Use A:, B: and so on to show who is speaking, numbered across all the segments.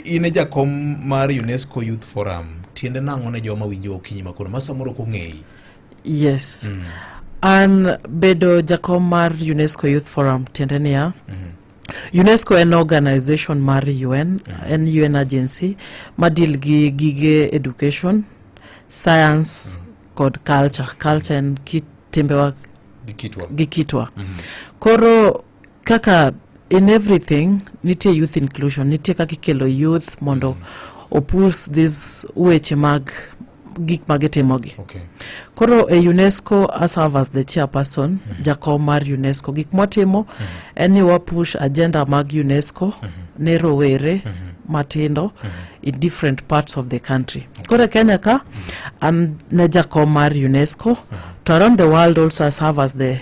A: in e jakom mar unesco youth forum tiende nang'o ne joma winjo okinyi makono ma samoro ok ong'eyi yes
B: mm. an bedo jakom mar unesco youth forum tiende niya mm -hmm. UNESCO en organization mar UN, mm -hmm. en UN agency ma deal gi gige education, science mm -hmm. kod culture. Culture en kit timbewa gi kitwa. Gi kitwa. Mm -hmm. Koro kaka in everything nitie youth inclusion nitie kaka ikelo youth mondo mm. opus this weche mag gik ma gitimogi okay. koro e unesco aserve as the chairperson mm -hmm. jakom mar unesco gik mwatimo mm -hmm. en ni wapush agenda mag unesco mm -hmm. ne rowere mm -hmm. matindo mm -hmm. in different parts of the country okay. koro e kenya ka mm -hmm. an ne jakom mar unesco mm -hmm. to around the world also aserve as the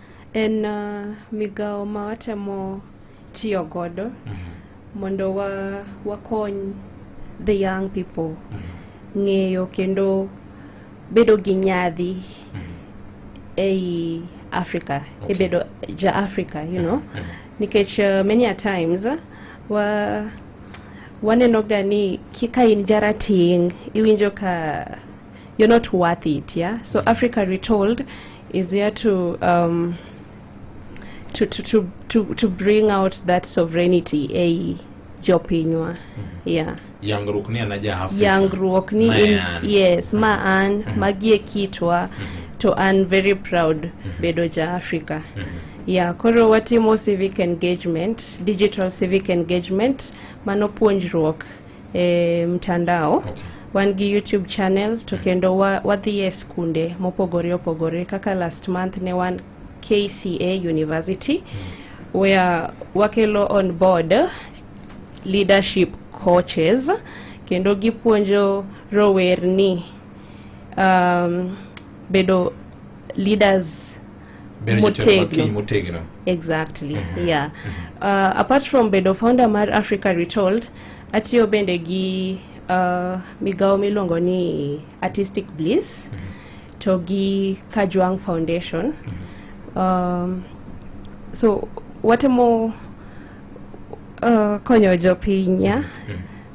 C: En uh, migawo ma watemo tiyo godo mm -hmm. mondo wa, wakony the young people mm -hmm. ng'eyo kendo bedo gi nyadhi mm -hmm. ei Africa okay. ibedo ja Africa you know mm -hmm. nikech uh, many a times uh, wa waneno ga ni kika in jarating iwinjo ka you're not worth it yeah so mm. africa retold is here to um, to, to, to, to, to bring out that sovereignty ei jopinywa mm -hmm. yeah yangruok ni an
A: aja Afrika yangruok ni in,
C: yes ma mm-hmm. an mm -hmm. magie kitwa mm -hmm. to an very proud mm -hmm. bedo ja Afrika mm -hmm. yeah koro watimo civic engagement digital civic engagement mano puonjruok e mtandao wan gi YouTube channel to kendo wadhi e skunde mopogore opogore kaka last month ne wan KCA University where wakelo on board leadership coaches kendo gipuonjo rowerni um, bedo leaders bedo jotelo mag kiny motegno exactly mhm. yeah mhm. uh, apart from bedo founder mar africa retold atiyo bende gi uh, migawo miluongo ni artistic bliss mhm. to gi kajwang foundation um, so watemo uh, konyo jopinya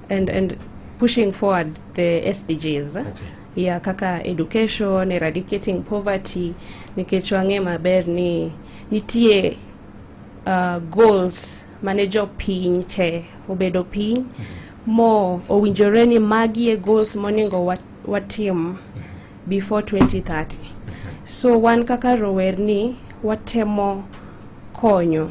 C: and, and pushing forward the sdgs okay. ya kaka education, eradicating poverty nikech wang'e maber ni nitie uh, goals mane jopiny te obedo piny mo owinjore ni magi e goals moningo watim before 2030 so wan kaka rowerni watemo konyo